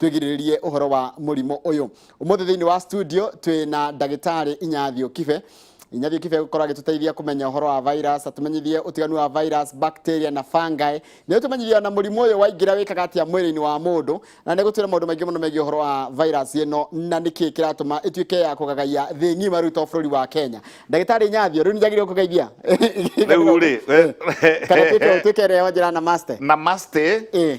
twĩgirĩrĩrie ũhoro wa mũrimũ ũyũ ũmũthĩ thĩinĩ wa studio twĩ na ndagĩtarĩ inyathio kibe inyathio kibe gũkorwo agĩtũteithia kũmenya ũhoro wa virus atũmenyithie ũtiganu wa virus bacteria na fungi nĩ ũtũmenyithie ona mũrimũ ũyũ waingĩra wĩkaga atĩa mwĩrĩ-inĩ wa mũndũ na nĩ gũtwĩra maũndũ maingĩ mũno megiĩ ũhoro wa virus ĩno na nĩkĩ kĩratũma ĩtuĩke ya kũgagaia thĩ ng'ima rĩu to bũrũri wa kenya ndagĩtarĩ inyathio rĩu nĩnjagĩrĩirwo kũgeithia rĩu rĩ kana twĩke- twĩke ĩrĩa wanjĩra na master namaste Eh.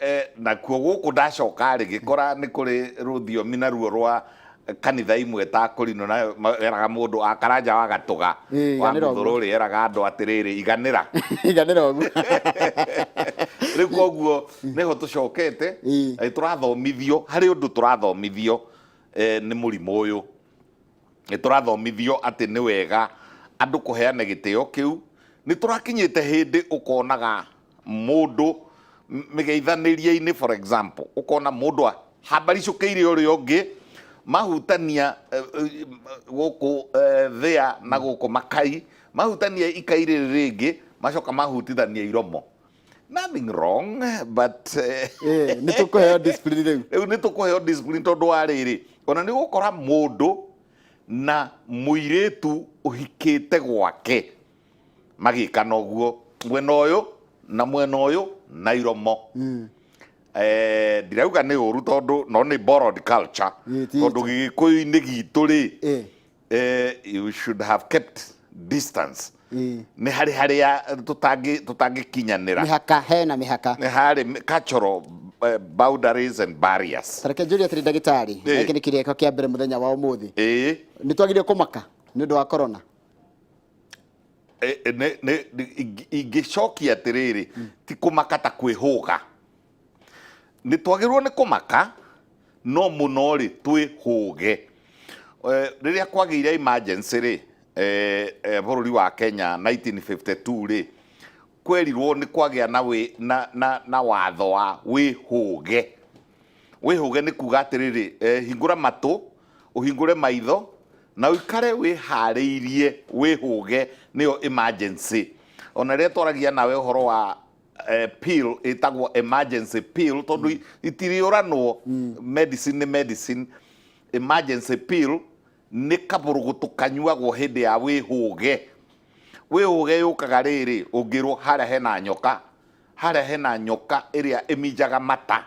Eh, nakuo gũkũ ndacoka rĩ gĩkora nĩ kũrĩ rũthiomi naruo rwa kanitha imwe ta kũrinũ na ma- eraga mũndũ akaranja wa gatũga Ĩ, wa iganĩra mũthũrũ rĩ eraga andũ atĩrĩrĩ iganĩra iganĩra ũguo rĩu koguo nĩho tũcokete Ĩ. eh, tũrathomithio harĩ ũndũ tũrathomithio eh, nĩ mũrimũ ũyũ Nĩ tũrathomithio atĩ nĩ wega andũ kũheane gĩtĩo kĩu. Nĩ tũrakinyĩte hĩndĩ ũkonaga mũndũ mĩgeithanĩrie-inĩ for example, ũkona mũndũ ahambaricũkĩire ũrĩa ũngĩ, mahutania gũkũ thĩa na gũkũ makai, mahutania ikai rĩrĩ rĩngĩ, macoka mahutithania iromo. nothing wrong but eh, Eh, nĩ tũkũheo discipline rĩu rĩu nĩ tũkũheo discipline tondũ wa rĩrĩ ona nĩ gũkora mũndũ na mũirĩtu ũhikĩte gwake magĩkana ũguo mwena ũyũ na mwena ũyũ na iromo Eh, ndirauga nĩ ũru tondũ no nĩ borrowed culture Ĩ, ti tondũ gĩgĩkũyũ-inĩ gitũ rĩ Eh. eh, you should have kept distance Ĩĩ. nä harä harä ya tå tangä kinyanä mĩhaka hena mĩhaka nä harä cultural eh, boundaries and barriers tareke njũria atĩrĩ ndagĩtarĩ Ĩĩ. gĩkĩ nĩ kĩrĩko kĩa mbere mũthenya wa ũmũthĩ ä nĩ twagĩrĩire kũmaka nĩ ũndũ wa korona ingä cokia atä rä rä ti kå maka ta kwä hå ga Nĩ twagĩrĩirwo nĩ kũmaka, no mũno-rĩ twĩhũge. Rĩrĩa kwagĩire emergency-rĩ, bũrũri wa Kenya 1952-rĩ, kwerirwo nĩ kwagĩa na watho wa wĩhũge. Wĩhũge nĩ kuga atĩrĩrĩ, hingũra matũ, ũhingũre maitho, na ũikare wĩharĩirie wĩhũge, nĩyo emergency. Ona rĩrĩa twaragia nawe ũhoro wa eh, pill ĩtagwo emergency pill tondũ mm. itiriũranwo mm. medicine nĩ medicine emergency pill nĩ kaburũgũtũ kanyuagwo hĩndĩ ya wĩhũge wĩhũge yũkaga rĩrĩ ũngĩrwo harĩa hena nyoka harĩa hena nyoka ĩrĩa ĩminjaga mata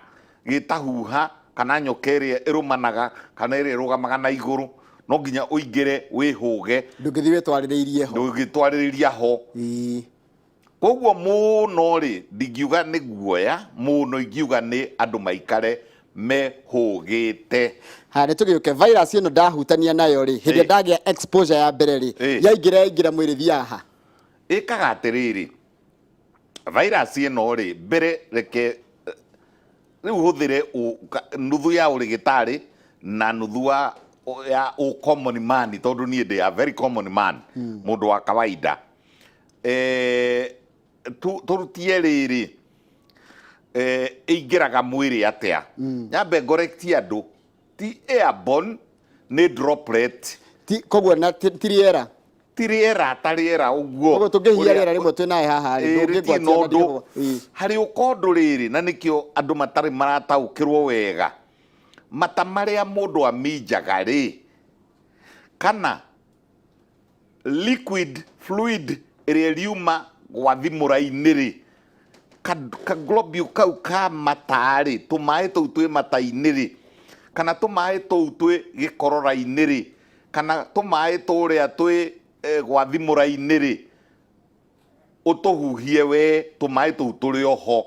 gĩtahuha kana nyoka ĩrĩa ĩrũmanaga kana ĩrĩa ĩrũgamaga na igũrũ no nginya ũingĩre wĩhũge ndũngĩthiĩ wĩtwarĩrĩirie ho ndũngĩtwarĩrĩria ho Kwoguo mũũno-rĩ, ndingiuga nĩ guoya, mũũno ingiuga nĩ andũ maikare mehũgĩte. Ha, nĩ tũgĩũke virus ĩno ndahutania nayo rĩ hĩndĩ ĩrĩa Ĩ. ndagĩa exposure ya mbere rĩ Ĩ. yaingĩra yaingĩra mwĩrĩ thiaga ha ĩkaga atĩrĩrĩ virus ĩno rĩ mbere reke rĩu hũthĩre ũ- ka- nuthu ya ũrĩgĩtarĩ na nuthu wa ya ũ common man tondũ niĩ ndĩ a very common man mũndũ wa kawaida Eh, tu- turutie rĩrĩ eh, ĩingĩraga mwĩrĩ atĩa nyambe ngorekti andũ ti airborne nĩ droplet Ti- koguo na ti ti rĩera ti rĩera ta rĩera ũguo koguo tũngĩhia Ũrĩa- rĩera rĩmwe twĩ naĩ haha rĩ Ĩĩ, rĩtirĩ na ndũngĩngwatia ũndũ harĩ ũkondũ rĩrĩ na nĩkĩo andũ matarĩ marataũkĩrwo wega mata marĩa mũndũ aminjaga rĩ kana liquid fluid ĩrĩa ĩriuma gwa thimũra-inĩ rĩ ka, ka globule kau ka mata rĩ tũmaĩ tũu twĩ mata-inĩ rĩ kana tũmaĩ tũu twĩ gĩkorora-inĩ rĩ kana tũmaĩ tũrĩa twĩ eh, gwa thimũra-inĩ rĩ ũtũhuhie wee tũmaĩ tũu tũrĩ oho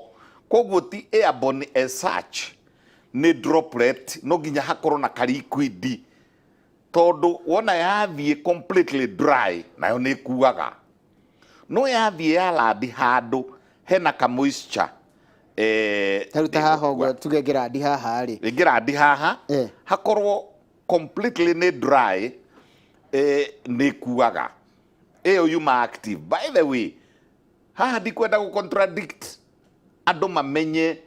koguo ti airborne as such nĩ droplet no nginya hakorwo na karikwidi tondũ wona yathiĩ completely dry nayo nĩ ĩkuaga no yathiĩ ya landi handũ hena ka moisture eh, tarĩu ta haha ũguo tuge ngĩrandi haha rĩ ngĩrandi haha Eh. hakorwo completely nĩ dry eh, nĩ kuaga ĩyo yuma active by the way haha ndikwenda gũ contradict andũ mamenye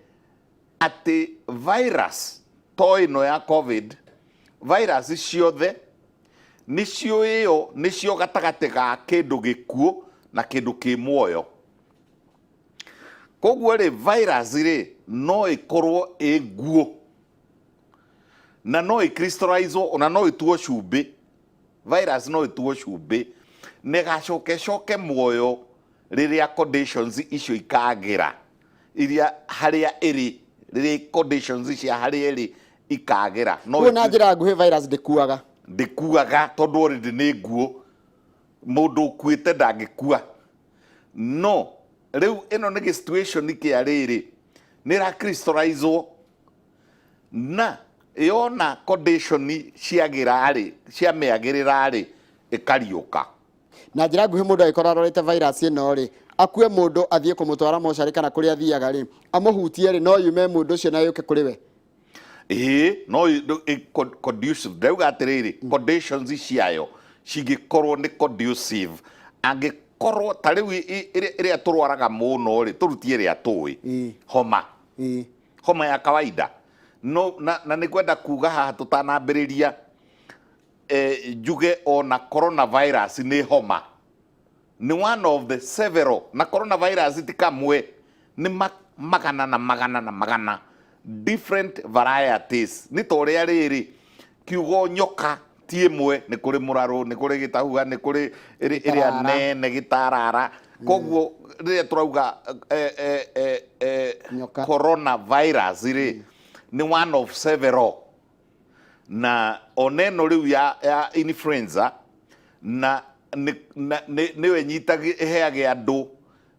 Atĩ virus to ĩno ya covid, virus ciothe nĩcio ĩyo, nĩcio gatagatĩ ga kĩndũ gĩkuũ na kĩndũ kĩ muoyo. Koguo rĩ virus rĩ no ĩkorwo ĩ nguũ na no ĩ crystallize wo na no ĩtuo cumbĩ, virus no ĩtuo cumbĩ na ĩgacoka ĩcoke muoyo rĩrĩa conditions icio ikagĩra. iria harĩa ĩrĩ rĩrĩ conditions cia harĩa ĩrĩ ikagĩra no Kuo na njĩra nguhĩ virus ndĩkuaga. ndĩkuaga tondũ already nĩ nguũ mũndũ ũkuĩte ndangĩkua no rĩu ĩno nĩ gĩ situation kĩa rĩrĩ nĩ ra crystallizwo na yona condition ciagĩra rĩ ciamĩagĩrĩra rĩ ĩkariũka Na njĩra nguhĩ mũndũ agĩkorwo arwarĩte virus ĩno rĩ, akue mũndũ athiĩ kũmũtwara mocarĩ kana kũrĩa athiaga rĩ, amũhutie rĩ, no yume mũndũ ũcio na yũke kũrĩ we? Ĩĩ, no ĩ- ndũ- ĩ- con- conducive. Ndĩrauga atĩrĩrĩ, conditions ciayo cingĩkorwo nĩ conducive, angĩkorwo ta rĩu ĩ- ĩ- ĩrĩa ĩrĩa tũrwaraga mũno rĩ, tũrutie ĩrĩa tũĩ, Ĩĩ. homa Ĩĩ. homa ya kawaida no na, na nĩ kwenda kuga haha tũtanambĩrĩria eh, njuge o na coronavirus nĩ homa nĩ one of the several na coronavirus ti kamwe nĩ ma, magana na magana na magana different varieties nĩ ta ũrĩa rĩrĩ kiugo nyoka ti ĩmwe nĩ kũrĩ mũrarũ nĩ kũrĩ gĩtahua nĩ kũrĩ ĩrĩ- ĩrĩa Gĩtarara. nene gĩtarara koguo rĩrĩa tũrauga eh, eh, eh, eh, Nyoka. coronavirus rĩ nĩ one of several na ona ĩno rĩu ya, ya influenza na nĩ- na- nĩ- nĩyo ĩnyitagĩ- ĩheagĩ andũ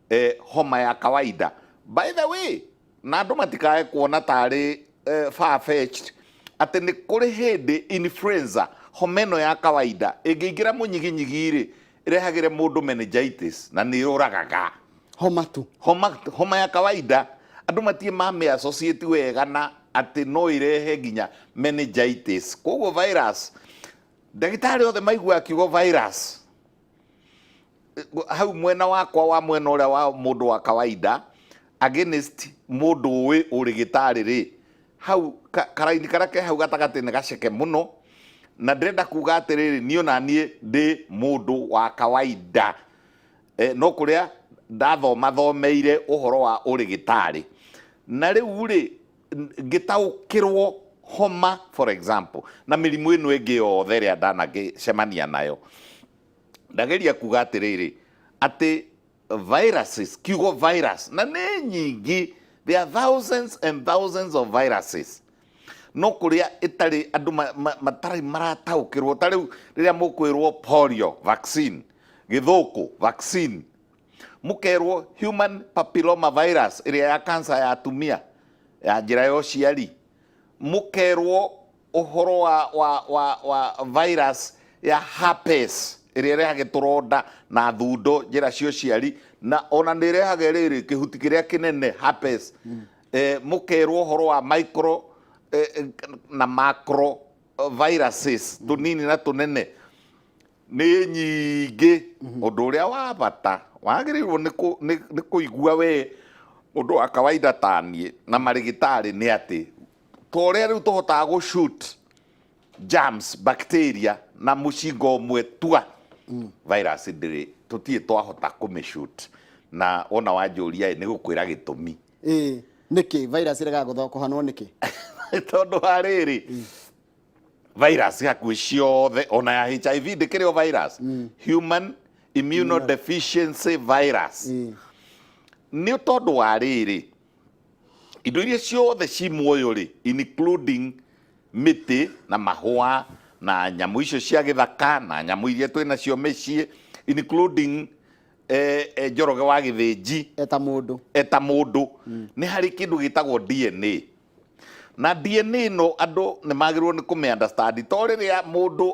eh, homa ya kawaida by the way na andũ matikae kuona tarĩ eh, far-fetched atĩ nĩ kũrĩ hĩndĩ influenza homa ĩno ya kawaida ĩngĩingĩra mũnyiginyigi-rĩ Ĩrehagĩre mũndũ meningitis na nĩ yũragaga. Homa tu. Homa, homa ya kawaida. Andũ matirĩ mamĩ associate wega na atĩ no ĩrehe nginya meningitis. Kwoguo virus, ndagĩtarĩ othe maiguaga kiugo virus, hau mwena wakwa wa mwena ũrĩa wa mũndũ wa kawaida against mũndũ ũĩ ũrĩgĩtarĩ rĩ, Hau karaini karĩa ke hau gatagatĩ nĩ gaceke mũno, na ndĩrenda kuga atĩrĩrĩ, niĩ ona niĩ ndĩ mũndũ wa kawainda, no kũrĩa ndathoma thomeire ũhoro wa ũrĩgĩtarĩ. Na rĩu rĩ, ngĩtaũkĩrwo homa for example, na mĩrimũ ĩno ĩngĩ yothe ĩrĩa ndanagĩcemania nayo, ndageria kuga atĩrĩrĩ, atĩ... viruses kiugo virus na nĩ nyingĩ there are thousands and thousands of viruses no kũrĩa ĩtarĩ andũ ma- ma- matarĩ marataũkĩrwo ta rĩu rĩrĩa mũkwĩrwo polio vaccine gĩthũkũ vaccine mũkerwo human papilloma virus ĩrĩa ya kansa ya atumia ya njĩra ya ũciari mũkerwo ũhoro wa, wa, wa, wa virus ya herpes ĩrĩa ĩrehage tũronda na thundo njĩra cia ũciari na ona nĩ ĩrehage rĩrĩ kĩhuti kĩrĩa kĩnene herpes eh, mũkerwo ũhoro wa micro eh, eh, na macro eh, viruses tũnini na tũnene nĩ nyingĩ ũndũ ũrĩa wa bata wagĩrĩirwo nĩ kũ- nĩ- nĩ kũigua we mũndũ wa kawaida taniĩ na marĩgĩtarĩ nĩ atĩ ta ũrĩa rĩu tũhotaga gũ shoot germs bacteria na mũcinga ũmwe tua virus ndĩrĩ tũtirĩ twahota kũmĩ shoot na wona wanjũria nĩ gũkwĩra gĩtũmi ĩĩ nĩkĩ virus ĩregaga gũtho- kũhanwo nĩkĩ tondũ wa rĩrĩ virus hakuhĩ ciothe ona ya hiv ndĩkĩrĩ o virus human immunodeficiency virus nĩ tondũ wa rĩrĩ indo iria ciothe ci muoyo rĩ including mĩtĩ na mahũa na nyamũ icio cia gĩthaka na nyamũ iria twĩ nacio mĩciĩ including eh, eh, njoroge wa gĩthĩnji eta mũndũ eta mũndũ nĩ harĩ kĩndũ gĩtagwo DNA na DNA no andũ nĩ magĩrĩirwo nĩ kũmĩ understand to rĩrĩa mũndũ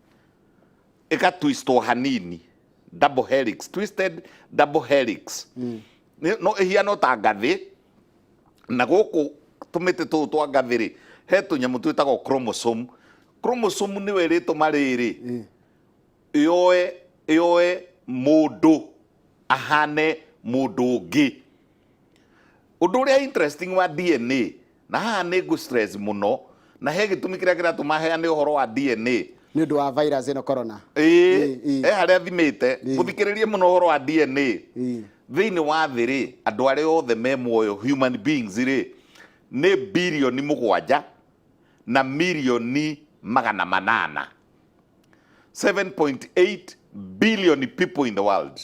ĩka twistwo hanini double helix twisted double helix Nĩ- no ĩhiana ta ngathĩ na gũkũ tũmĩtĩ tũu twa ngathĩ rĩ he tũnyamũ twĩtagwo chromosome chromosome nĩwe ĩrĩtũma rĩrĩ yoe yoe mũndũ ahane mũndũ ũngĩ ũndũ ũrĩa interesting wa dna Na haha nĩ ngũ stress mũno na he gĩtũmi kĩrĩa kĩratũma heane ũhoro wa DNA. Nĩ ũndũ wa virus ĩno corona. Ĩĩ, he harĩa thimĩte. Mũthikĩrĩrie mũno ũhoro wa DNA. Thĩinĩ wa thĩ rĩ, andũ arĩa othe me muoyo, human beings rĩ, nĩ birioni mũgwanja na mirioni magana manana. 7.8 billion people in the world.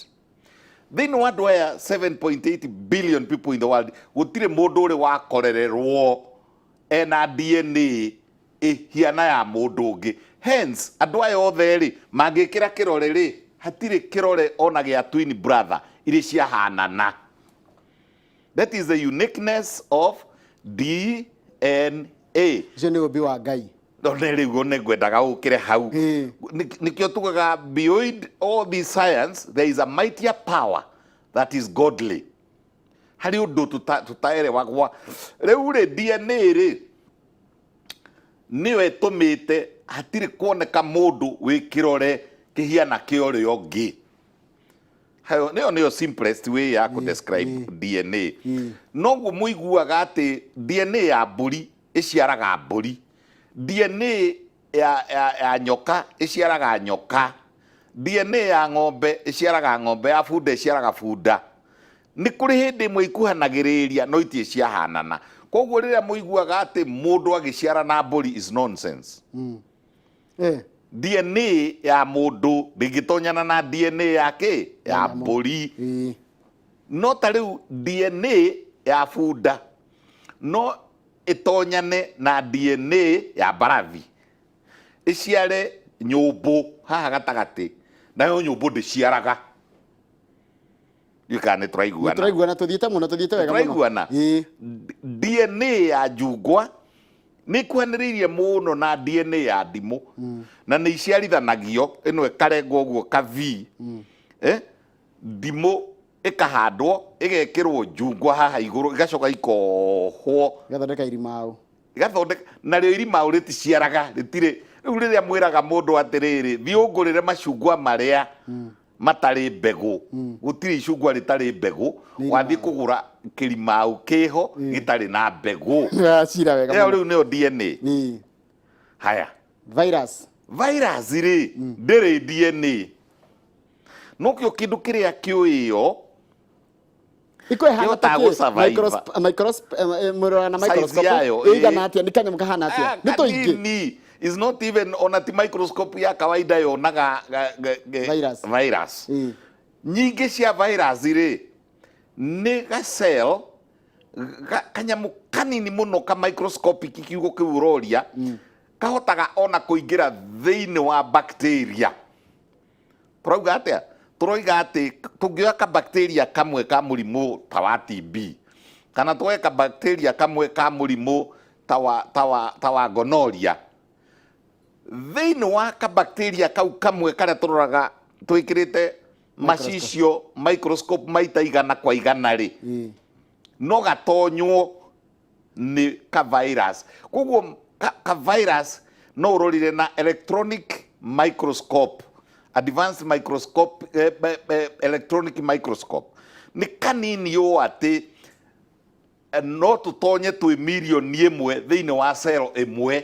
thĩinĩ wa andũ aya 7.8 billion people in the world gũtirĩ mũndũ ũrĩ wakorererwo ena dna ĩhiana ya mũndũ ũngĩ hence andũ aya othe rĩ mangĩkĩra kĩrore rĩ hatirĩ kĩrore ona gĩa twin brother irĩ ciahanana That is the uniqueness of DNA. Ũcio nĩ ũmbi wa Ngai. No nĩ rĩu ũguo nĩ ngwendaga ũkĩre hau. Ĩĩ. Nĩ- Nĩkĩo tugaga beyond all this science there is a mightier power that is godly. Harĩ ũndũ tũta- tũtaerewagwa. Rĩu rĩ DNA rĩ nĩyo ĩtũmĩte hatirĩ kuoneka mũndũ wĩ kĩrore kĩhiana kĩa ũrĩa ũngĩ. Hayo nĩyo nĩyo simplest way ya kũ describe DNA noguo mũiguaga atĩ DNA ya mbũri ĩciaraga mbũri DNA ya, ya, ya nyoka ĩciaraga nyoka DNA ya ng'ombe ĩciaraga ng'ombe ya bunda ĩciaraga bunda nĩ kũrĩ hĩndĩ ĩmwe ikuhanagĩrĩria no itirĩ ciahanana koguo rĩrĩa mũiguaga atĩ mũndũ agĩciara na mbũri is nonsense Eh, dna ya mũndũ ndĩngĩtonyana na dna ya kĩ ya Ya nyamũ. mbũri ĩĩ. no ta rĩu dna ya bunda no ĩtonyane na dna ya mbarathi ĩciare nyũmbũ haha gatagatĩ nayo nyũmbũ ndĩciaraga ndiå kana nä tåraiguana tũraiguana tũthiĩte mũno tũthiĩte wega mũno tũraiguana Ĩĩ. dna ya njungwa nä ikuhanä rä irie må no na dna ya ndimå na nä iciarithanagio ä no ä karengwo å guo ka v Eh? ndimå ä kahandwo ä gekä rwo njungwa haha igå rå igacoka ikohwo gathondeka irimaũ igathondeka narĩo irimaũ rĩticiaraga rĩtirĩ rĩu rĩrĩa mwĩraga mũndũ atĩrĩrĩ thiĩ ũngũrĩre macungwa marĩa matarĩ mbegũ gũtirĩ icungwa rĩtarĩ mbegũ Nĩ wathiĩ irima. kũgũra kĩrimau kĩho gĩtarĩ na mbegũ cira wega ĩyo mũno. rĩu nĩyo DNA Ĩ, haya virus virus rĩ ndĩrĩ DNA nokĩo kĩndũ kĩrĩa kĩũĩo iko ihana Yo ta gũ survive. murora na Size microscope yayo, eh. igana atia ni kanyamũ kahana Ah, atia ni tuingi kanini is not even ona ti microscope ya kawaida yonaga ga- ga- ga- Virus. virus Mm. nyingĩ cia virus rĩ nĩ gacel ga- kanyamũ kanini mũno ka microscopic kiugo kĩu ũroria kahotaga ona kũingĩra thĩinĩ wa bacteria tũrauga atĩa tũroiga atĩ tũngĩoya kabakteria kamwe ka mũrimũ ta wa TB kana twoe kabakteria kamwe ka mũrimũ ta wa, ta wa, ta wa gonoria thĩinĩ wa kabakteria kau kamwe karĩa tũroraga twĩkĩrĩte macicio microscope maita igana kwa igana rĩ no gatonywo nĩ ka virus. Koguo ka, ka virus no ũrorire na electronic microscope, advanced microscope, eh, be- be- electronic microscope. Nĩ kanini ũũ atĩ eh, no tũtonye twĩ mirioni ĩmwe thĩinĩ wa cell ĩmwe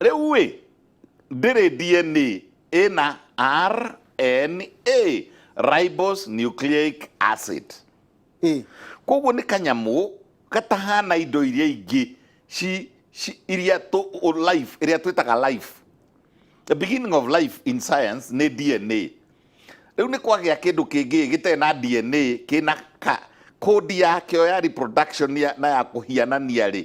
rĩu ĩ ndĩrĩ dna ĩna rna ribose nucleic acid ĩ koguo nĩ kanyamũ gatahana indo iria ingĩ ci, ci, iria tũ, o life iria twĩtaga life the beginning of life in science nĩ dna rĩu nĩ kwagĩa kĩndũ kĩngĩ gĩtarĩ na dna kĩna ka kodi yakĩo ya reproduction ya, na ya kũhianania rĩ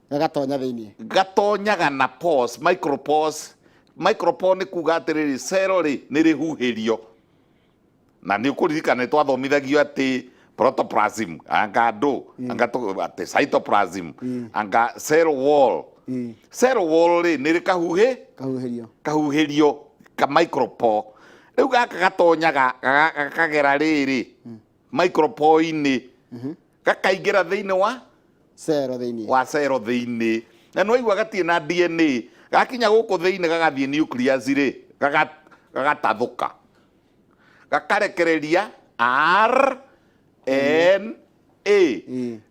gagatonya thĩinĩ gatonyaga na pores micropores micropore nĩ kuga atĩrĩrĩ cero rĩ nĩ rĩhuhĩrio na nĩ ũkũririkana nĩ twathomithagio atĩ protoplasm anga ndũ anga tũ- atĩ cytoplasm anga cell wall cell wall rĩ nĩ rĩkahuhĩ kahuhĩrio kahuhĩrio ka micropore rĩu gaka gatonyaga gaga- gakagera rĩrĩ micropoinĩ gakaingĩra thĩinĩ wa cero thĩinĩ wa cero thĩinĩ na nĩ waigua gatirĩ na dna gakinya gũkũ thĩinĩ gagathiĩ nucleus rĩ gaga- gagatathũka gakarekereria r n a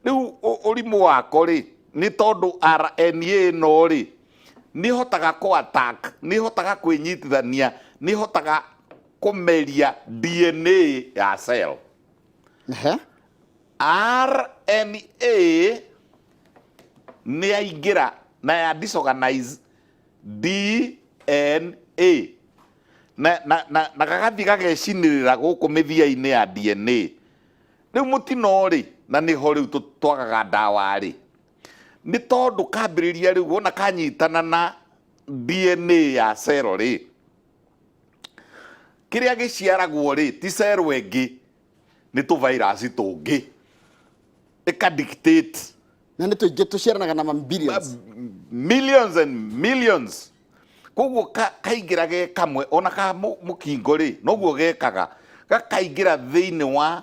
rĩu ũ- ũrimũ wako rĩ nĩ tondũ rna ĩno rĩ nĩ hotaga kũ attack nĩ hotaga kwĩnyitithania nĩ hotaga kũmeria DNA ya cell. Ehe. RNA nĩ yaingĩra na ya disorganize DNA na, na, na, na gagathiĩ gagecinĩrĩra gũkũ mĩthia-inĩ ya DNA rĩu mũtino rĩ na nĩho rĩu tũ- twagaga ndawa rĩ nĩ tondũ kambĩrĩria rĩu wona kanyitana na DNA ya cero rĩ kĩrĩa gĩciaragwo rĩ ti cero ĩngĩ nĩ tũvairasi tũngĩ ĩka dictate na nĩ tũingĩ tũciaranaga na mambilions millions and millions koguo ka- kaingĩra ge kamwe ona ka mũ- mũkingo rĩ noguo gekaga gakaingĩra thĩinĩ wa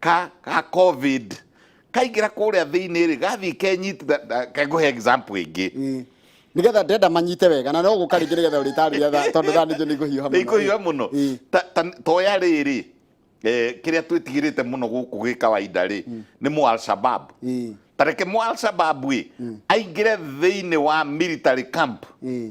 ka ka covid kaingĩra kũrĩa thĩinĩ rĩ gathiĩ kenyit kekũhe example ĩngĩ Mm. nĩgetha ndenda manyite wega na no gũka rĩngĩ nĩgetha ũrĩtarĩria tha- tondũ thaa nĩnjũ nĩngũhiũha mũno. ikũhiũha mũno Ĩ. Ta- ta- toya rĩrĩ eh, kĩrĩa twĩtigĩrĩte mũno gũkũ gĩ kawaida rĩ nĩ mũ alshabab Ĩ, tareke mũ alshabab ĩ aingĩre thĩinĩ wa military camp ĩ.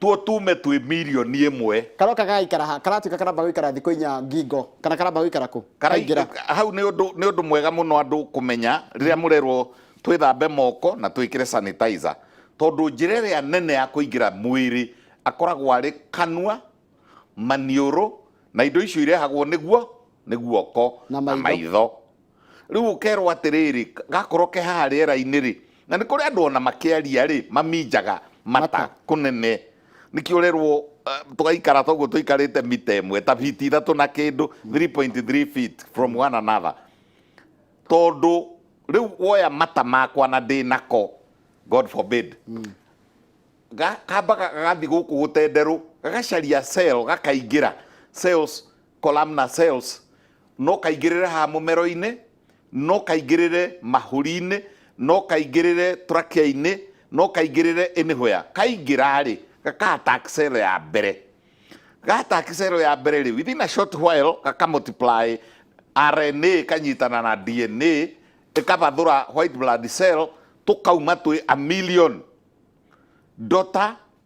Tuo tume twĩ mirioni ĩmwe. Karũa aka gagaikara ha? Karatuĩka karamba gũikara thikũ inya ngingo, kana karamba gũikara kũ? Karai, Kaingĩra. hau nĩ ũndũ, nĩ ũndũ mwega mũno andũ kũmenya rĩrĩa mũrerwo twĩthambe moko na twĩkĩre sanitizer. Tondũ njĩra ĩrĩa nene ya kũingĩra mwĩrĩ akoragwo arĩ kanua, maniũrũ, na indo icio irehagwo nĩguo nĩ guoko Na na maitho. maitho. Rĩu ũkerwo atĩrĩrĩ, gakorwo ke haha rĩera-inĩ-rĩ, na nĩ kũrĩ andũ ona makĩaria-rĩ, maminjaga mata kũnene. Nĩkĩo ũrerwo tũgaikara ta ũguo tũikarĩte mita ĩmwe, ta biti ithatũ na kĩndũ, 3.3 feet from one another. Tondũ rĩu woya mata makwa na ndĩ nako, God forbid, kambaga gagathiĩ gũkũ gũtenderũ, gagacaria cell gakaingĩra, cells columnar cells, no kaingĩrĩre haha mũmero-inĩ, no kaingĩrĩre mahũri-inĩ, no kaingĩrĩre trachea-inĩ, no kaingĩrĩre anywhere. Kaingĩra-rĩ, gaka attack cell ya mbere. Ga attack cell ya mbere-rĩ, within a short while gaka multiply RNA ĩkanyitana na DNA, ĩkabathũra white blood cell, tũkauma twĩ a million. Daughter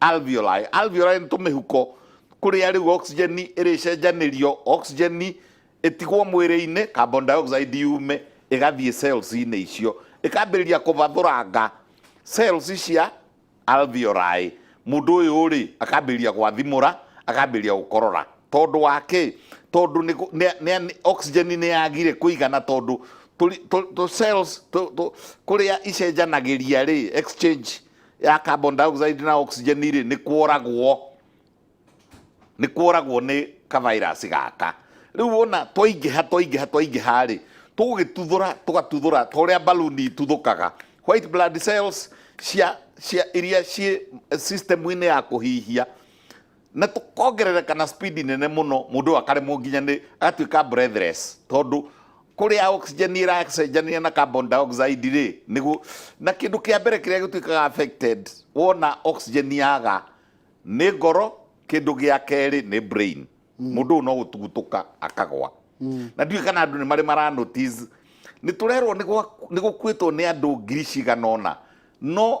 Alveoli. Alveoli nĩ tũmĩhuko kũrĩa rĩu oxygen ĩrĩcenjanĩrio oxygen ĩtigwo mwĩrĩ-inĩ carbon dioxide yume ĩgathiĩ cells-inĩ icio ĩkambĩrĩria kũbathũranga cells cia alveoli mũndũ ũyũ rĩ akambĩrĩria gwathimũra akambĩrĩria gũkorora tondũ wa kĩ tondũ nĩ kũ- nĩ- nĩ- oxygen nĩ yagire kũigana tondũ tũri- tũ- tũ cells tũ- tũ- kũrĩa icenjanagĩria rĩ exchange ya carbon dioxide na oxygen rĩ nĩ kworagwo nĩ kworagwo nĩ kavirus gaka rĩu wona twaingĩha twaingĩha twaingĩha rĩ tũgũgĩtuthũra tũgatuthũra ta ũrĩa baluni ituthũkaga white blood cells cia cia iria ciĩ system-inĩ ya kũhihia na tũkongerereka na speed nene mũno mũndũ akaremwo nginya nĩ agatuĩka breathless tondũ kũrĩa oxygen ĩracenjania na carbon dioxide rĩ nĩguo na kĩndũ kĩa mbere kĩrĩa gĩtuĩkaga affected wona oxygen yaga nĩ ngoro kĩndũ gĩa kerĩ nĩ brain mũndũ ũyũ no gũtugutũka akagwa na ndiũĩ kana andũ nĩ marĩ mara notice nĩ tũrerwo nĩ gwa- nĩ gũkuĩtwo nĩ andũ ngiri cigana ũna no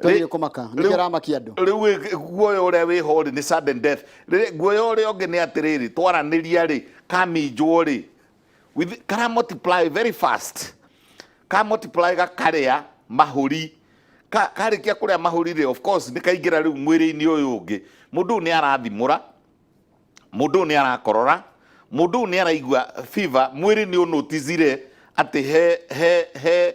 Twathire kumaka nä kä aramakia andå rä u guoya å rä a wä ho rä nä sudden death Rĩrĩ, guoya å rä a å ngä nä atä rä rä twaranä ria rä kaminjwo rä with- kara multiply very fast ka multiply gakarĩa mahũri Ka- karĩkia kũrĩa mahũri rĩ of course nĩ kaingĩra rĩu mwĩrĩ-inĩ ũyũ ũngĩ mũndũ ũyũ nĩ arathimũra mũndũ ũyũ nĩ arakorora mũndũ ũyũ nĩ araigua fever mwĩrĩ nĩ ũnotizire atĩ he he he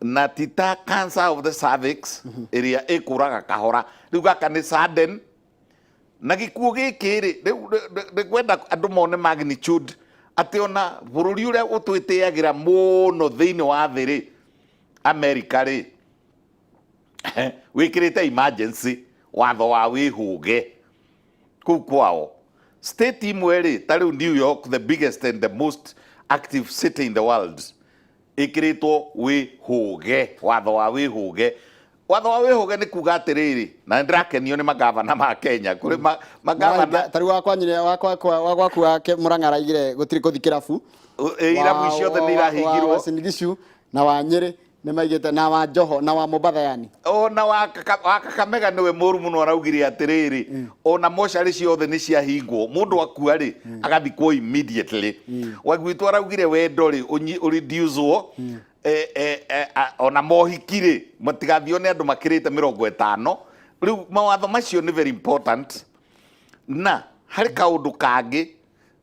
na ti ta cancer of the cervix mhm. ĩrĩa ĩkũraga kahora rĩu gaka nĩ sudden na gĩkuũ gĩkĩ rĩ rĩu kwenda andũ mone magnitude atĩ ona bũrũri ũrĩa ũtwĩtĩagĩra mũno thĩinĩ wa thĩ rĩ amerika rĩ wĩkĩrĩte emergency watho wa wĩhũge kuu kwao state imwe rĩ ta rĩu new york the biggest and the most active city in the world ĩkĩrĩtwo wĩhũge watho wa wĩhũge watho wa wĩhũge nĩ kuga atĩrĩrĩ na ndĩrakenio nĩ magavana ma kenya kũrĩ ma- magavana tari wakwa nyine wakwa kwa- wa gwaku wake mũrang'ara igire gũtirĩ kũthi kĩrabu irabu Wa- ciothe wa- nĩ wa- irahingirwo wa Uasin Gishu na wa nyĩrĩ Nĩmaigĩte na wa Njoho na wa Mombatha yani. Ona wa Kaka- wa kakamega nĩwe mũru mũno araugire atĩrĩrĩ ona mocarĩ ciothe nĩ ciahingwo mũndũ akua rĩ agathikwo immediately wagwitũ araugire wendo rĩ ũnyi- ũreducwo eh, eh, eh, a- ona mohiki rĩ matigathio nĩ andũ makĩrĩte mĩrongo ĩtano rĩu mawatho macio nĩ very important na harĩ kaũndũ kangĩ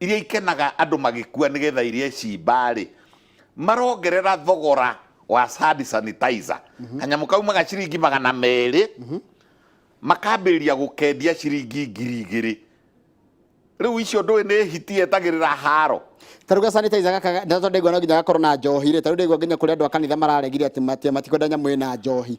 iria ikenaga andũ magĩkua nĩgetha iria icimba-rĩ, marongerera thogora wa hand sanitizer. Kanyamũ kaumaga ciringi magana merĩ, makambĩrĩria gũkendia ciringi ngiri igĩrĩ. Rĩu icio ndũĩ nĩ hiti yetagĩrĩra haro? ta rĩu ga sanitizer gaka ga- ndatwa ndaigua no nginya gakorwo na njohi rĩ ta rĩu ndaigua nginya kũrĩ andũ a kanitha mararegire atĩ mati- matikwenda nyamũ ĩna njohi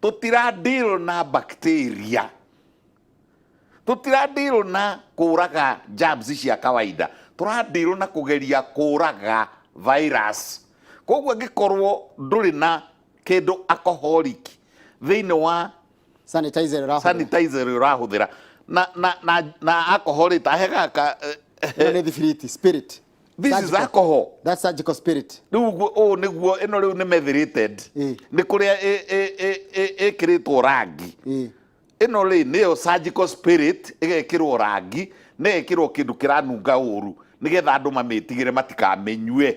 tũtiradĩrwo na bacteria tũtiradĩrwo na kũraga germs cia kawaida tũradĩrwo na kũgeria kũraga virus koguo angĩkorwo ndũrĩ na kĩndũ alcoholic thĩinĩ wa sanitizer ĩrahũthĩra. sanitizer ĩrĩa ũrahũthĩra na na na na alcohol ĩtahegaga Ĩno nĩ thibiriti spirit this is Surgical. alcohol That surgical spirit. rĩu guo- ũũ nĩguo ĩno rĩu nĩ methirated Eh. nĩ kũrĩa ĩ- ĩ- ĩ- ĩ- ĩkĩrĩtwo rangi Eh. ĩno rĩ nĩyo surgical spirit ĩgekĩrwo rangi na ĩgekĩrwo kĩndũ kĩranunga ũru nĩgetha andũ mamĩtigĩre matikamĩnyue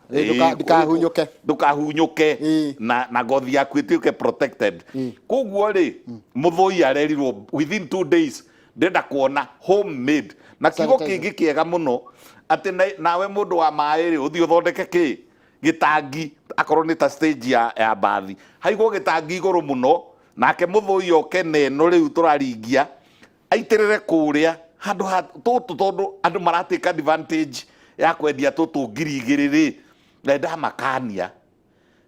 Ĩ, ndũka- Ĩ, ndikahunyũke. ndũkahunyũke Ĩ. na, na ngothi yaku ĩtuĩke protected koguo rĩ mũthũi arerirwo within two days ndenda kuona homemade na kiugo Sanitizer. kĩngĩ kĩega mũno atĩ na- nawe mũndũ wa maĩ rĩ ũthiĩ ũthondeke kĩ gĩtangi akorwo nĩ ta stage ya, ya mbathi haigwo gĩtangi igũrũ mũno nake mũthũi oke neno rĩu tũraringia aitĩrĩre kũrĩa handũ ha tũtũ tondũ andũ maratĩka advantage ya kwendia tũtũ ngiri igĩrĩ rĩ na ndamakania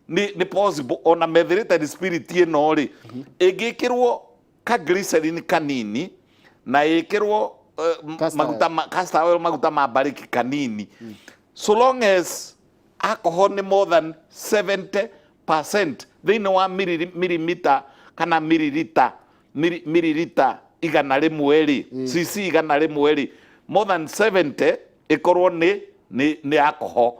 nĩ nĩ possible ona methylated spirit ĩno rĩ ĩngĩkĩrwo ka glycerin kanini na ĩkĩrwo eh, m- Castor maguta ma- castor oil maguta ma mbarĩki kanini so long as alcohol nĩ more than 70 percent thĩinĩ wa miliri- milimita kana miririta miri- miririta igana rĩmwe rĩ cc igana rĩmwe rĩ more than 70 ĩkorwo nĩ nĩ nĩ alcohol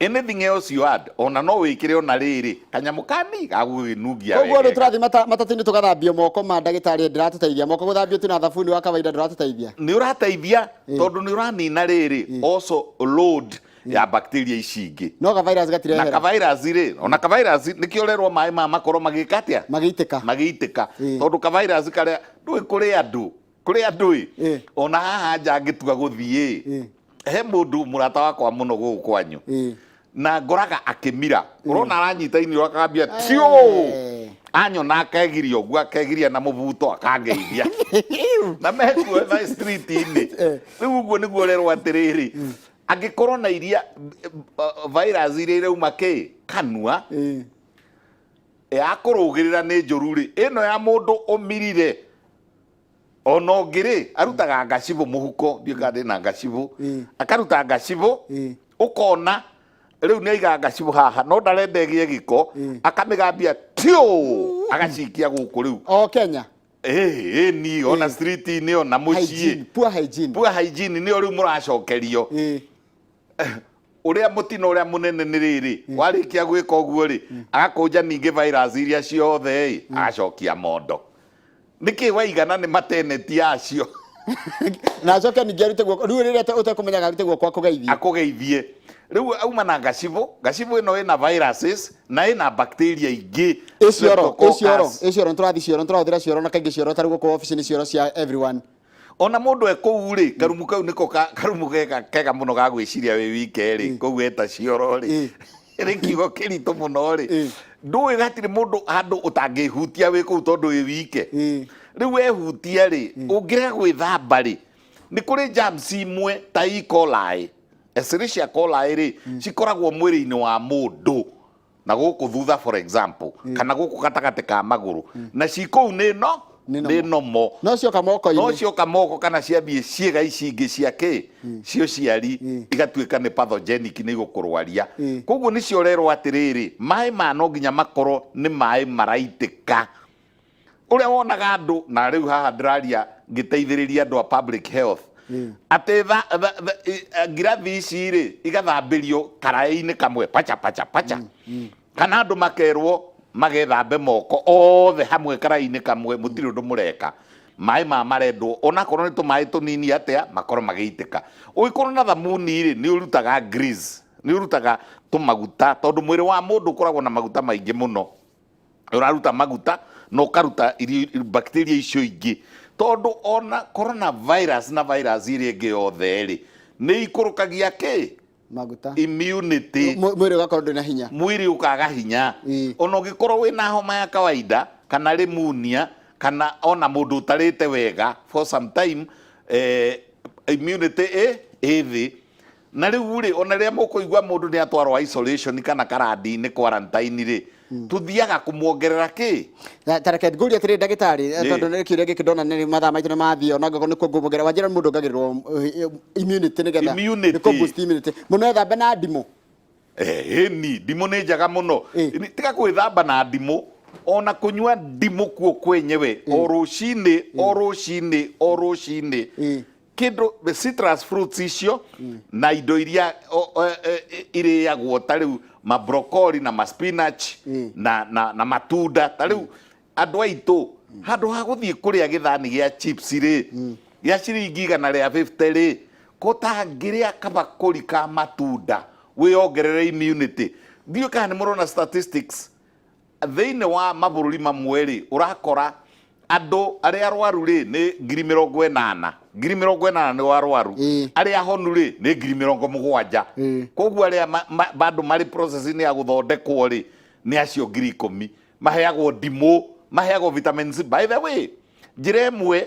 anything else you add ona no wĩkĩre ona rĩrĩ kanyamũ kani gagũgĩnungia koguo andå wegega. tå rathiä matatinä tå gathambio moko ma ndagätarä rä ndä ratå teithia moko gå thambio tu na thabuni wa kawaida ndå ratå teithia nä å rateithia tondå nä å ranina rä rä also load ya bacteria ici ingĩ no ka virus na gatirehera kavairasi rĩ ona kavairasi nĩkĩo ũrerwo maĩ maya makorwo magĩka atĩa magĩitĩka magĩitĩka Ĩĩ. tondũ kavairasi karĩa ndũĩ kũrĩ andũ kũrĩ andũ ĩ Ĩĩ. ona haha nja ngĩtua gũthiĩ Ĩĩ. he mũndũ mũrata wakwa mũno gũkũ kwanyu Ĩĩ. na ngoraga akĩmira ũrona aranyita ini akambia tio Eh. anyona akegiria ũguo akegiria na mũbuto akangeithia na mekuo na street-inĩ rĩu ũguo nĩguo ũrerwo atĩrĩrĩ Angĩkorwo na iria virus iria irauma kĩ kanua Eh. ya kũrũgĩrĩra nĩ njũru rĩ ĩno ya mũndũ ũmirire ona ũngĩ rĩ arutaga ngacibũ mũhuko ndiũĩ kana ndĩna ngacibũ Mm. akaruta ngacibũ Mm. ũkona rĩu nĩ aiga ngacibũ haha no ndarenda ĩgĩe gĩko akamĩgambia tiũ agacikia gũkũ rĩu O Kenya. Ĩĩ, ĩni ona street-inĩ ona mũciĩ Hygiene, poor hygiene. pua hygiene nĩyo rĩu mũracokerio Ĩĩ. ũrĩa mũtino ũrĩa mũnene nĩ rĩrĩ warĩkia gwĩka ũguo rĩ agakũnja ningĩ virus iria ciothe ĩ agacokia mondo nĩkĩ waigana nĩ mateneti yacio na acoke ningĩ arute guoko rĩu rĩrĩa ũte- ũtekũmenyaga arute guoko akũgeithie akũgeithie rĩu auma na gacibũ gacibũ ĩno ĩna viruses na ĩna bacteria ingĩ ĩ cioro ĩ cioro streptococcus. ĩ cioro nĩtũrathi cioro nĩtũrahũthĩra cioro na kaingĩ cioro tarĩ gũkũ ofici nĩ cioro cia everyone ona mũndũ e kũu rĩ karumu kau nĩko ka- karumu kega kega mũno ga gwĩciria wĩ wike rĩ kũu eta cioro rĩ nĩ kiugo kĩritũ mũno rĩ ndũĩ hatirĩ mũndũ handũ ũtangĩhutia wĩ kũu tondũ wĩ wike rĩu wehutia rĩ ũngĩrega gwĩthamba rĩ nĩ kũrĩ germs imwe ta E. coli Escherichia coli rĩ cikoragwo mwĩrĩ-inĩ wa mũndũ na gũkũ thutha for example kana gũkũ gatagatĩ ka magũrũ na ci kũu nĩ no Nĩ nomo. nĩ nomo no cioka no moko-inĩ cioka moko kana ciambie ciĩga ici ingĩ cia kĩ cio ciari Mm. igatuĩka nĩ pathogenic nĩ igũkũrwaria Mm. koguo nĩcio ũrerwo atĩrĩrĩ maĩ ma no nginya makorwo nĩ maĩ maraitĩka ũrĩa wonaga andũ na rĩu haha ndĩraria ngĩteithĩrĩria andũ a public health atĩ tha- tha- tha- i- eh, ngirathi ici rĩ igathambĩrio karaĩ-inĩ kamwe pacha pacha pacha kana andũ makerwo magethambe moko othe hamwe karaĩ-inĩ kamwe mũtirĩ ũndũ mũreka maĩ ma marendwo onakorwo nĩ tũmaĩ tũnini atĩa makorwo magĩitĩka ũngĩkorwo na thamuni rĩ nĩ ũrutaga grease, nĩ ũrutaga tũmaguta tondũ mwĩrĩ wa mũndũ ũkoragwo na maguta maingĩ mũno ũraruta maguta na ũkaruta irio- bacteria icio ingĩ tondũ ona corona virus na virus iria ingĩ yothe rĩ nĩ ikũrũkagia kĩ maguta immunity Mw- mwĩrĩ ũgakorwo ndwĩ na hinya mwĩrĩ ũkaga hinya Ĩĩ. ona ũngĩkorwo wĩ na homa ya kawaida kana rĩmunia kana ona mũndũ ũtarĩte wega for some time eh, immunity ĩ ĩ thĩ Na rĩu-rĩ, o na rĩrĩa mũkũigua mũndũ nĩ atwarwo isolation kana karandi-inĩ, quarantine-rĩ, tũthiaga kũmuongerera kĩ? Na ta reke ngũrie atĩrĩrĩ ndagĩtarĩ, eh, Ĩĩ. tondũ nĩ kĩũria gĩkĩ ndona nĩ mathaa maitũ nĩ mathiĩ, o na angĩkorwo nĩ kuongerera, wanjĩra mũndũ ongagĩrĩrwo eh, immunity nĩgetha Immunity. nĩ kũ-boost immunity. Mũndũ no ethambe na ndimũ? Ĩĩni, ndimũ nĩ njega mũno. Ĩĩ. Nĩ- Tiga gwĩthamba na ndimũ, o na kũnyua ndimũ kuo kwenyewe, o rũcinĩ, o rũcinĩ, o rũcinĩ. Ĩĩ. kindu citrus fruits icio mm. na indo iria e, iriagwo ta riu ma broccoli na ma spinach mm. na na na matunda ta riu mm. andu aitu mm. handu ha guthie kuria githani gia chips ri mm. gia ciringi igana ria 50 ri ko tangiria kabakuri ka matunda wiongerere immunity ndiu kana ni murona statistics Thĩinĩ wa mabũrũri mamwe-rĩ, ũrakora andũ arĩa arwaru-rĩ nĩ ngiri mĩrongo ĩnana, ngiri mĩrongo ĩnana nĩo arwaru, Ĩĩ. arĩa ahonu-rĩ nĩ ngiri mĩrongo mũgwanja. Ĩĩ. Koguo arĩa ma- ma- bado marĩ process-inĩ ya gũthondekwo-rĩ nĩ acio ngiri ikũmi. Maheagwo ndimũ, maheagwo vitamin C. By the way, njĩra ĩmwe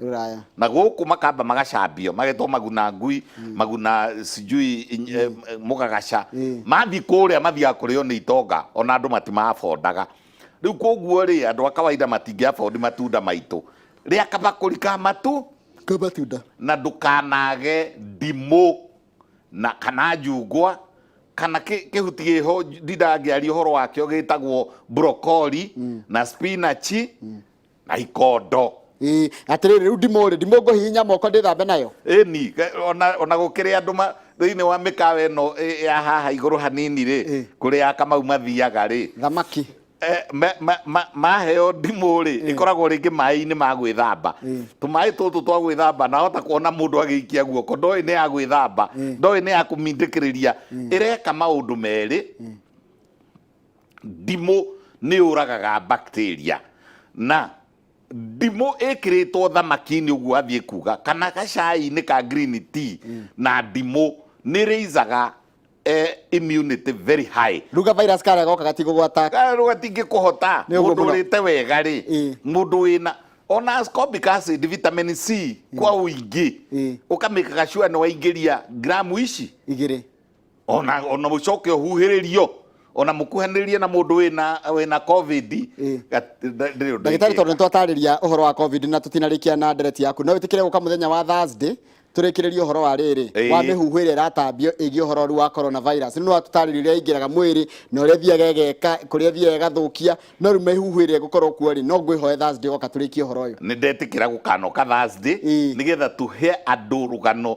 ruraya na gũkũ makamba magacambio magetwo maguna ngui mm. maguna sijui mm. eh, mũgagaca mm. mathiĩ kũrĩa mathiaga kũrĩo nĩ itonga ona andũ matimabondaga rĩu koguo rĩ andũ a kawaida matingĩabondi matunda maitũ rĩa kabakũri ka matũ ka matunda na ndũkanage ndimũ na kana njungwa kana kihuti giho ndindangĩaria ũhoro wakĩo gĩtagwo brokoli mm. na spinachi mm. na ikondo Ĩĩ, atĩrĩrĩ rĩu ndimũ rĩ ndimũ ngũhihinya moko ndĩthambe nayo ĩni ge- ona ona gũkĩrĩ andũ ma- thĩinĩ wa mĩkawa ĩno ĩ- ya haha igũrũ hanini rĩ Ĩ. kũrĩ akamau mathiaga rĩ thamaki Eh, ma- ma- ma- maheo ndimũ rĩ ĩkoragwo rĩngĩ maĩ-inĩ ma gwĩthamba Ĩ. tũmaĩ tũtũ twa gwĩthamba nahota kuona mũndũ agĩikia guoko ndoĩ nĩ ya gwĩthamba ndoĩ nĩ ya kũmindĩkĩrĩria ĩreka maũndũ merĩ Ndimũ nĩ yũragaga bacteria na ndimũ ĩkĩrĩtwo thamaki-inĩ ũguo athiĩ kuga kana gacai-inĩ ka green tea na ndimũ nĩ raisaga eh, immunity very high ruga virus karĩa goka gatigũgwata rå gatingä kå hota Nĩ må ũguo ndå mũno. rä te wega rä Ĩĩ. må ndå wä na ona ascorbic acid vitamin c kwa å ingä Ĩĩ. å kamä kagacua nä waingä ria gramu ici igĩrĩ ona ona mucoke huhiririo ona mukuhaniririe na mundu wina wina covid Eh. ndagitari ndagitari tondu nitwatariria uhoro wa covid na tutinarikia na ndereti yaku no witikire guka muthenya wa thursday turikiririe uhoro wa riri Eh. wa mihuhu iria iratambio igi uhoro ru wa coronavirus no atutarire iria ingiraga mwiri na uria thiaga igeka kuria thiaga igathukia no ru mihuhu iria gukorwo kuo ri no ngwihoe thursday goka turikie uhoro uyu nä ndetä kä ra gå kanoka Ĩĩ. nä getha tå he andå rå gano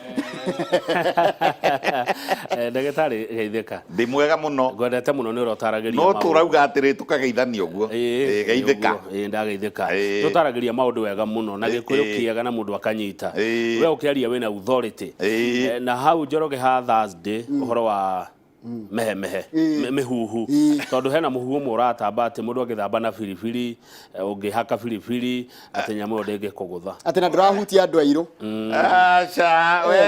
Eh, ndagĩtarĩ geithĩka ndĩ mwega mũno ngwendete mũno nĩ ũrotaragĩria no tũrauga atĩrĩ tũkageithania ũguo Ĩĩ, geithĩka ĩĩ, ndageithĩka Ĩĩ. tũtaragĩria maũndũ wega mũno na gĩkũyũ Ĩĩ. kĩega na mũndũ akanyita Ĩĩ. we ũkĩaria wĩna authority Ĩĩ. Eh, na hau njoroge ha thursday ũhoro wa mm. mehemehe eh. mĩhuhu eh. tondũ hena mũhuhu ũmwe ũratamba atĩ mũndũ agĩthamba na biribiri eh, ũngĩhaka biribiri atĩ nyamũ ĩyo ndĩngĩkũgũtha atĩ na ndũrahutia andũ airũ mm. aca we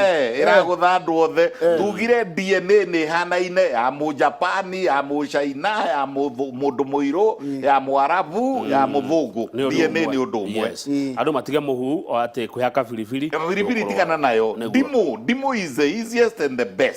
ĩragũtha andũ othe tugire DNA nĩ hanaine ya mũjapani ya mũcaina ya mũndũ mũirũ mm. ya mũarabu mm. ya mũthũngũ DNA nĩ ũndũ ũmwe andũ matige mũhuhu atĩ kwĩhaka biribiri biribiri tigana nayo ndimũ ndimũ is the easiest and the best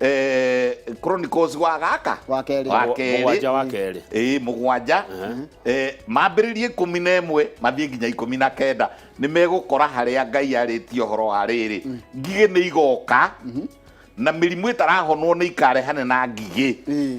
eh, chronicles wa gaka Wa kerĩ. wa Mũgwa- kerĩ mũgwanja wa kerĩ. ĩĩ mũgwanja Eh, mambĩrĩrie ikũmi na ĩmwe mathiĩ nginya ikũmi na kenda nĩ megũkora harĩa ngai arĩtie ũhoro wa rĩrĩ ngigĩ nĩ igoka na mĩrimũ ĩtarahonwo nĩ ikarehane na ngigĩ Ĩĩ.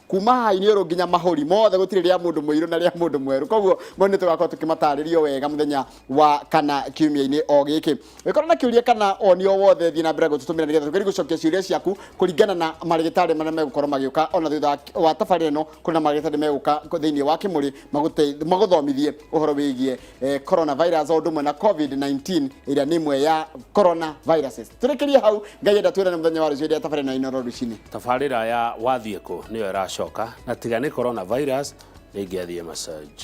kuma haha iniũrũ nginya mahũri mothe gũtirĩ rĩa mũndũ mũirũ na rĩa mũndũ mwerũ koguo mau nĩ tũgakorwo tũkĩmatarĩrio wega mũthenya wa kana kiumia-inĩ o gĩkĩ wĩkorwo na kĩũria kana oni o wothe thiĩ na mbere gũtũtũmĩra nĩgetha tũgerie gũcokia ciũria ciaku kũringana na marĩgĩtarĩ marĩa megũkorwo magĩũka ona thutha wa- wa tabarĩra ĩno kũrĩ na marĩgĩtarĩ megũka thĩinĩ wa kĩmũrĩ magũte- magũthomithie ũhoro wĩgiĩ eh, coronavirus o ũndũ ũmwe na covid-19 ĩrĩa nĩ ĩmwe ya coronaviruses tũrĩkĩrie hau ngai enda twĩrane mũthenya wa rũciũ rĩrĩa tabarĩ na inoro rũcinĩ tabarĩra ya wathiĩ kũ nĩyo ĩracoka na tiga nĩ coronavirus nĩngĩathiĩ massage